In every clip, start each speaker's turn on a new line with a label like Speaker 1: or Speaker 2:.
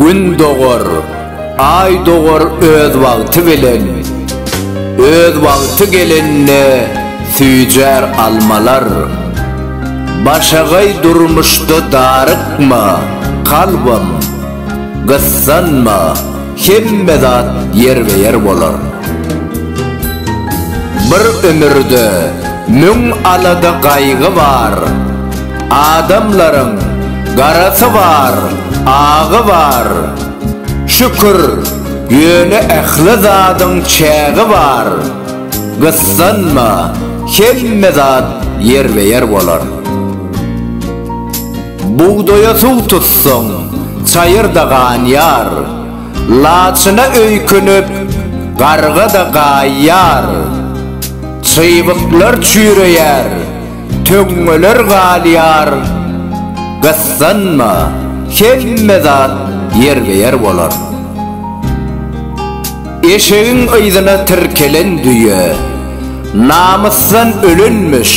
Speaker 1: Gün dogar, Aý dogar öz wagty bilen, Öz wagty gelende süýjär almalar. Başagaý durmuşda darykma, kalbym, Gyssanma, hemme zat ýerbe-ýer bolar. Bir ömürde müň alada-gaýgy bar. Adamlaryň garasy bar, agy bar, Şükür, ýöne ähli zadyň çägi bar, Gyssanma, hemme zat ýerbe-ýer bolar. Bugdaýa suw tutsaň, çaýyrda ganýar, Laçyna öýkünip, garga-da gaýýar, Çybyklar çüýreýär, töňňeler galýar Gyssanma hemme zat ýerbe-ýer bolar Eşegiň yzyna tirkelen düýe Namysdan ölenmiş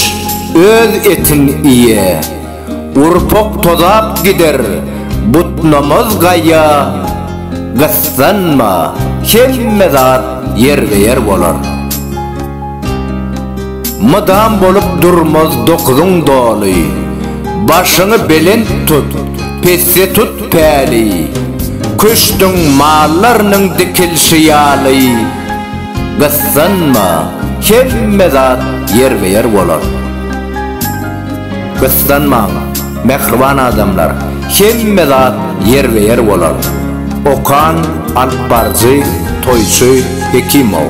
Speaker 1: öz etin iýe Urpok tozap gider butnamaz gaýa Gyssanma hemme zat ýerbe-ýer bolar. Mydam bolup durmaz dokuzyň doly, Başyňy belent tut, pesde tut päli, Küştüň mallarynyň dikilşi ýaly. Gyssanma, hemme zat ýerbe-ýer bolar. Gyssanmaň, mähriban adamlar, hemme zat ýerbe-ýer bolar. Okan, alypbaryjy, toýçy Hekimow.